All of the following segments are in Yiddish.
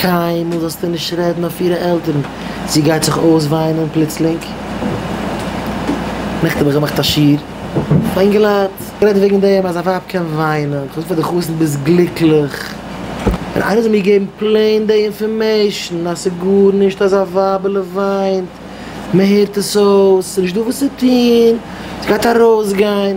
קיינמאל זאלסטו נישט רעדן אויף אירע עלטערן, זי גייט זיך אויסוויינען פלוצלינג. נעכטן האב איך געמאכט א שיעור פאר אינגעלייט, גערעדט וועגן דעם אז א ווייב קען וויינען, איך האב געזאגט פאר די חתן ביסט גליקליך, און איינער זאל מיר געבן פלעין די אינפארמעישן אז ס'איז גארנישט אז א ווייבעלע וויינט, מען הערט עס אויס, ס'איז נישטא וואס צו טון, ס'גייט ארויסגיין,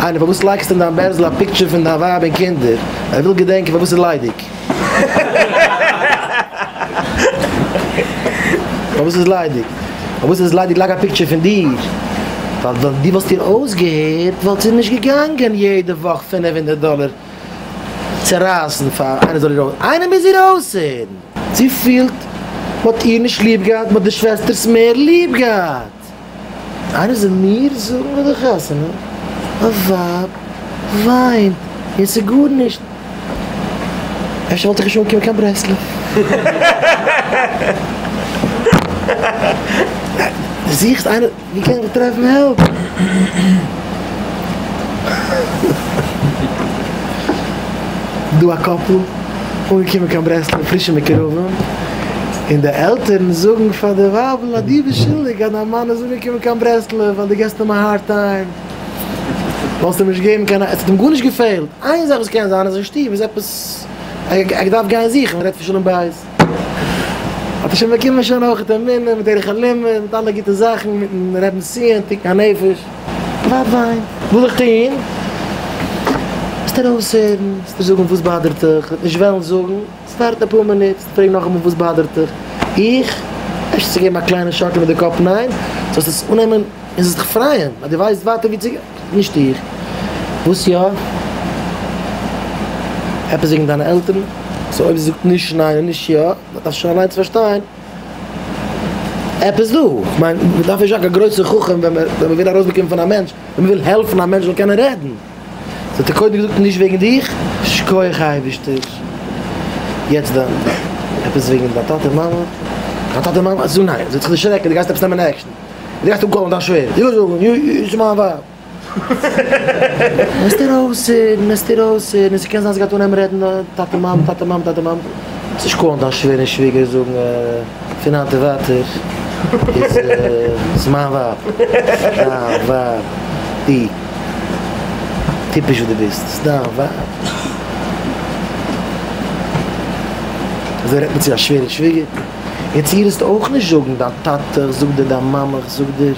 איינער פארוואס לייגסטו אין דיין בערזל א פיקטשער פון דיין ווייב און קינדער? ער וויל געדענקען פארוואס ס'איז ליידיג. פארוואס ס'איז ליידיג. פארוואס ס'איז ליידיג לייג א פיקטשער פון דיר. ווייל ווען דו וואלסט איר אויסגעהערט וואלט זי נישט געגאנגען יעדע וואך פינף הונדערט דאלער צורייסן פאר איינער זאל איר אויס. איינער מוז איר אויסהערן. זי פילט מ'האט איר נישט ליב געהאט, מ'האט די שוועסטערס מער ליב געהאט. גערעכט. איינער זאל מיר זאגן ביי די חתונה א ווייב וויינט און ס'איז גארנישט. אפשר וואלט איך נישט אנגעקומען קיין ברסלב. די זוכסט איינער ווי קען איך טרעפן העלפ. דא א קאפל. אנגעקומען קיין ברסלב פרישע מקורבים, און די עלטערן זאגן פאר די ווייבל אז דו ביסט שולדיג אז דיין מאן איז אנגעקומען קיין ברסלב ווייל דו געבסט אים א הארד טיים, וואלסט אים נישט געגעבן קיין, עס האט אים גארנישט געפעלט, איין זאך וואס קען זיין אז אין שטוב איז עפעס, ער האט געדארפט גיין זוכן, מען רעדט פון שלום בית, האט ער שוין באקומען שוין אויך את המינים, דרך הלימוד, מיט אלע גוטע זאכן, מיטן רעבען סיען, תיקון הנפש. פאר וויין וויל איך טוהן? וועסט ארויסהערן, וועסטו זאגן וואס באדערט דיך, וועט נישט וועלן זאגן, וועסט ווארטן אפאר מינוט, וועסט פרעגן נאכאמאל וואס באדערט דיך, איך? אפשר צו געבן א קליינע שאקל מיט די קאפ ניין, זאלסט עס אננעמען און זאלסט דיך פרייען אז דו ווייסט ווייטער ווי צו גיין, נישט איך. וואס יא? עפעס וועגן דיינע עלטערן? סאו אויב זי זאגט נישט ניין און נישט יא, דארפסטו שוין אליינס פארשטיין. עפעס דא, כ'מיין מ'דארף נישט זאגן א גרויסע חכם ווען מען וויל ארויסבאקומען פון א מענטש, ווען מ'וויל העלפן א מענטש זאל קענען רעדן, זאל ער קודם געזאגט נישט וועגן דיך, שכוח אייבערשטער, יעצט דאן עפעס וועגן דיין טאטע מאמע, דיין טאטע מאמע, זאג ניין, זי וועט זיך דערשרעקן, דו גייסט עפעס נעמען עקשן, דו גייסט אנקאלן דיין שווער, לאזט איר אויס הערן, לאזט איר אויס הערן, און ס'קען זיין ס'גייט אנהייבן רעדן טאטע מאמע, טאטע מאמע, טאטע מאמע, ס'נישט קאלן דיין שווער און שוויגער זאגן פון היינט און ווייטער איז איז מיין ווייב דיין ווייב, די טיפש וואס די ביסט איז דיין ווייב, אזוי רעדט מען צו א שווער און שוויגער? יעצט איר זאלסט אויך נישט זאגן דיין טאטע זאגט דיר דיין מאמע זאגט דיר.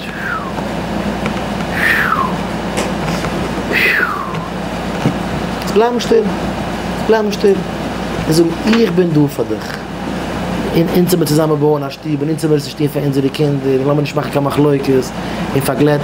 זאלסט בלייבן שטיל. בלייבן שטיל. און זאגן איך בין דא פאר דיך. און אונז האבן מיר צוזאמען בויען א שטוב און אונז האבן מיר עס נישט טון פאר אונזערע קינדער און לאמיר נישט מאכן קיין מחלוקת און פארגלעטן.